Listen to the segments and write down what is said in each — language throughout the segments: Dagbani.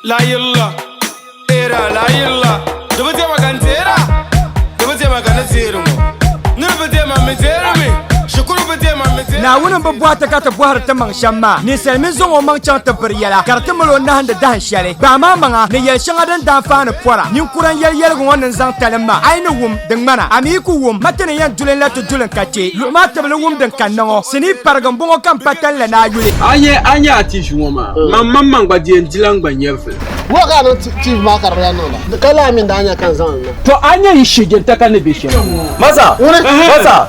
la yilla era la yilla di bi diɛma ka n deera di bi diɛma ka ni deeri ŋɔ niri bi diɛma mi deeri mi shikuru bi diɛma mi deeri naawuni bi bɔhi ti ka ti bɔhiri ti maŋ shɛm maa ninsali mi zaŋ o maŋ chaŋ ti biri yɛla ka di ti mali o nahindi dahin shɛli gbahi maa maŋa ni yɛli shɛŋa din daan faani pɔra ninkura n yɛli yɛligu ŋɔ ni n zaŋ talim maa a yi ni wum Di ŋmana, a mi yi ku wum ma ti ni yɛn duli n la ti duli n ka chɛ luɣu maa tibili wum din kanna ŋɔ. Sinii parigi m-bɔŋɔ ka m pa tani la ni a yuli. A nya a nya a tiivi ŋɔ maa? Mam mam man gba di yɛn di la n gba nyari vili. Wula ka a niŋ tiivi maa ka di bi lahi niŋ la? Ka lala mi n-daa nya ka n zaŋ li na. Tɔ! A nya yi shee jɛnta ka ni be shɛm. Masa! Ŋuni? Masa!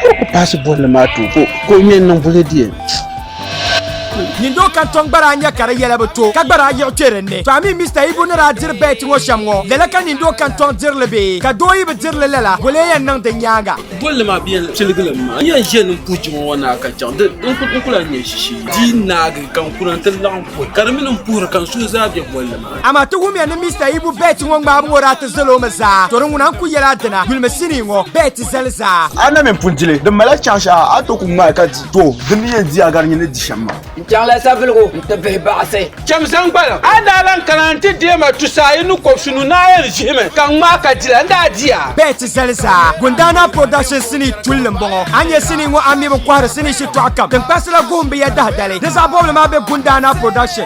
Ka o ku paasi bolli maa too ka o ŋmɛ n-niŋ bulli diɛn. Nyindoo kantɔŋ gba daa nya ka di yɛla bi to, ka gba daa yiɣi kpe din ni. To a mi Mister Ibu ni daa diri bɛɛti ŋɔ shɛm ŋɔ, lala ka nyindoo kantɔŋ diri li bee? Ka doo yi bi diri li lala, boli o yɛn niŋ din nyaaŋa? Bolli maa bi yɛn tiligi li m-ma. N yɛn ʒe ni m-puhi jiŋli ŋɔ naa ka chaŋ, di n ku lahi nya ʒiʒii. Di yi naagi ka n kuna nti laɣim puhi, ka di mi ni m-puhiri ka n suhu zaa be bolli maa ni. Amaa ti wumya ni Mister Ibu Bert ŋɔ ŋmaabu ŋɔ daa ti zali o mi zaa, tɔri ŋuna n-kul yɛl a dina, yulimi sinii ŋɔ, Bert zali zaa. A na mini pun dili, din mali chaŋ shɛha a to ku ŋmaai ka di, too, di mi yɛn di a gari nyin ni di shɛm maa. N chaŋla savelugu nti vihi baɣisi. Cham zaŋ gbana. A ni daa lan kana nti deei ma tusa a yi ni kɔbisi nu ni a yɛn ʒihimi ka n ŋmaai ka dila, n daa di a. Bert zali zaa. Gundaana Production sinii tulli m-bɔŋɔ. A ni nya sinii ŋɔ a mi bi kɔhiri sinii shitɔɣu kam. Tiŋkparisi la guhim bi ya dahi dali. Di zaɣ bɔbili maa be Gundaana Production.